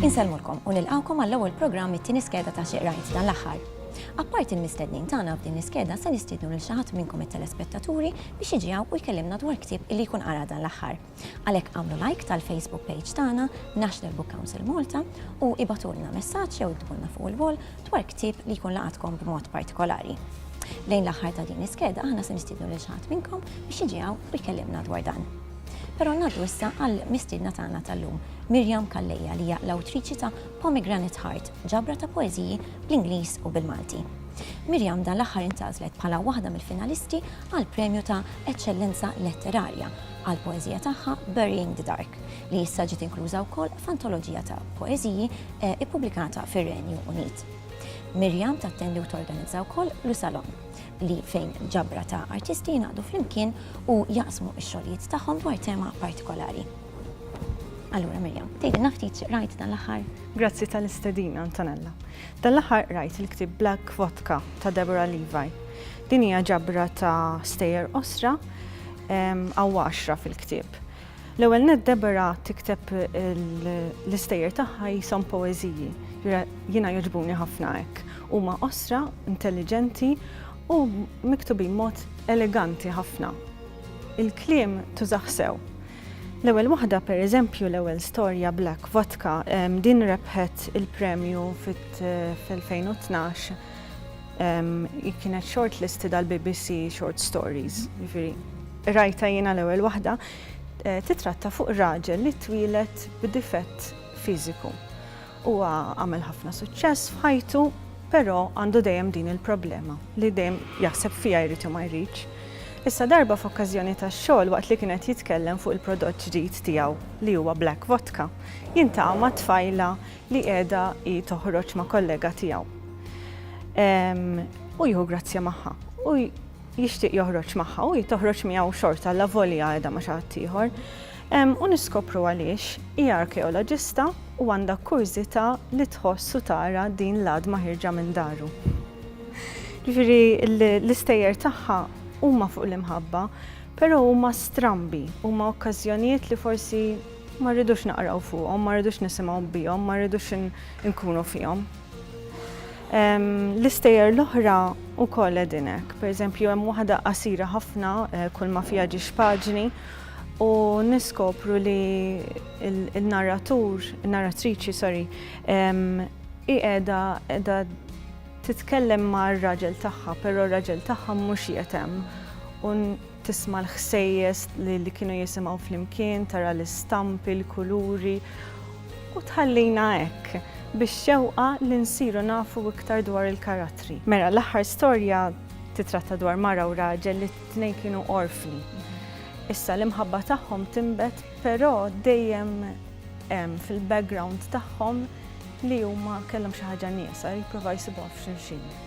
Insellmulkom u nilqgħukom għall-ewwel programm mit-tieni skeda ta' Xi Qrajt f'dan l-aħħar. Apparti l-mistednin tagħna f'din l-iskeda se nistiednu lil xi ħadd minnkom it-telespettaturi biex jiġi hawn u jkellimna dwar ktieb illi jkun qara dan l-aħħar. Għalhekk agħmlu like tal-Facebook page tagħna National Book Council Malta u ibgħatulna messaġġ jew iktbulna fuq il-wall dwar ktieb li jkun laqatkom b'mod partikolari. Lejn l-aħħar ta' din l-iskeda aħna se nistiednu lil xi ħadd minnkom biex jiġi hawn u jkellimna dwar dan. Però ngħaddu issa għal mistiedna tagħna tal-lum, Miriam Calleja li hija l-awtriċi ta' Pomegranate Heart, ġabra ta' poeżiji bl-Ingliż u bil-Malti. Miriam dan l-aħħar intgħażlet bħala waħda mill-finalisti għall-premju ta' Eċċellenza Letterarja għall-poeżija tagħha Burying the Dark, li issa ġiet inkluża wkoll f'antoloġija ta' poeżiji ppubblikata fir-Renju Unit. Miriam tattendi u torganizza wkoll Lu Salon, li fejn ġabra ta' artisti jingħaqdu flimkien u jaqsmu x-xogħlijiet tagħhom dwar tema partikolari. Allura Miriam, tgħidilna ftit x'qrajt dan l-aħħar? Grazzi tal-istedina, Antonella. Dan l-aħħar qrajt il-ktieb Black Vodka ta' Deborah Levi. Din hija ġabra ta' stejjer qosra Hawn għaxra fil-ktieb. L-ewwel nett Deborah tikteb l-istejjer tagħha jisom poeżiji. Jiena jogħġbuni ħafna hekk. Huma qosra, intelliġenti u miktubin mod eleganti ħafna. Il-kliem tużaħ sew. L-ewwel waħda pereżempju l-ewwel storja Black Vodka din rebħet il-premju fit-2012 Kienet short listed għal BBC Short Stories, ġifiri. Rajta jiena l-ewwel waħda eh, titratta fuq raġel li twilet b'difett fiżiku. Huwa għamel ħafna suċċess f'ħajtu, però għandu dejjem din il-problema li dejjem jaħseb fija jrid ma jridx. Issa darba f'okkażjoni tax-xogħol waqt li kienet jitkellem fuq il-prodott ġdid tiegħu li huwa Black Vodka, jintaqa' ma' tfajla li qiegħda hi toħroġ ma' kollega tiegħu. U jieħu grazzja magħha. U jixtieq joħroġ magħha u jitoħroġ miegħu xorta la volja qiegħda ma' xi ħadd ieħor. U niskopru għaliex hija arkeoloġista u għandha kurżità li tħoss u tara din l-għadma ħirġa minn daru. Ġifieri l-istejjer tagħha huma fuq l-imħabba, però huma strambi, huma okkażjonijiet li forsi Ma rridux naqraw fuqhom, ma rridux nisimgħu bihom, ma rridux inkunu fihom. L-istejjer l-oħra u koll edinek, per eżempju, hemm waħda qasira ħafna, eh, kull ma fija ġiex paġni, u niskopru li il-narratur, il-narratriċi, sorry, iqeda edha titkellem ma' raġel tagħha, però raġel tagħha mhux jetem. tisma' l-ħsejjes li kienu jisimgħu flimkien, tara l-istampi, l-kuluri, u tħallina hekk bix-xewqa li nsiru nafu iktar dwar il-karattri. Mela, l-aħħar storja titratta dwar mara u raġel li t-tnejn kienu orfni. Issa, l-imħabba tagħhom tinbet, però dejjem hemm fil-background tagħhom li huma kellhom xi ħaġa nieqsa, jippruvaw jsibuha f'xulxin.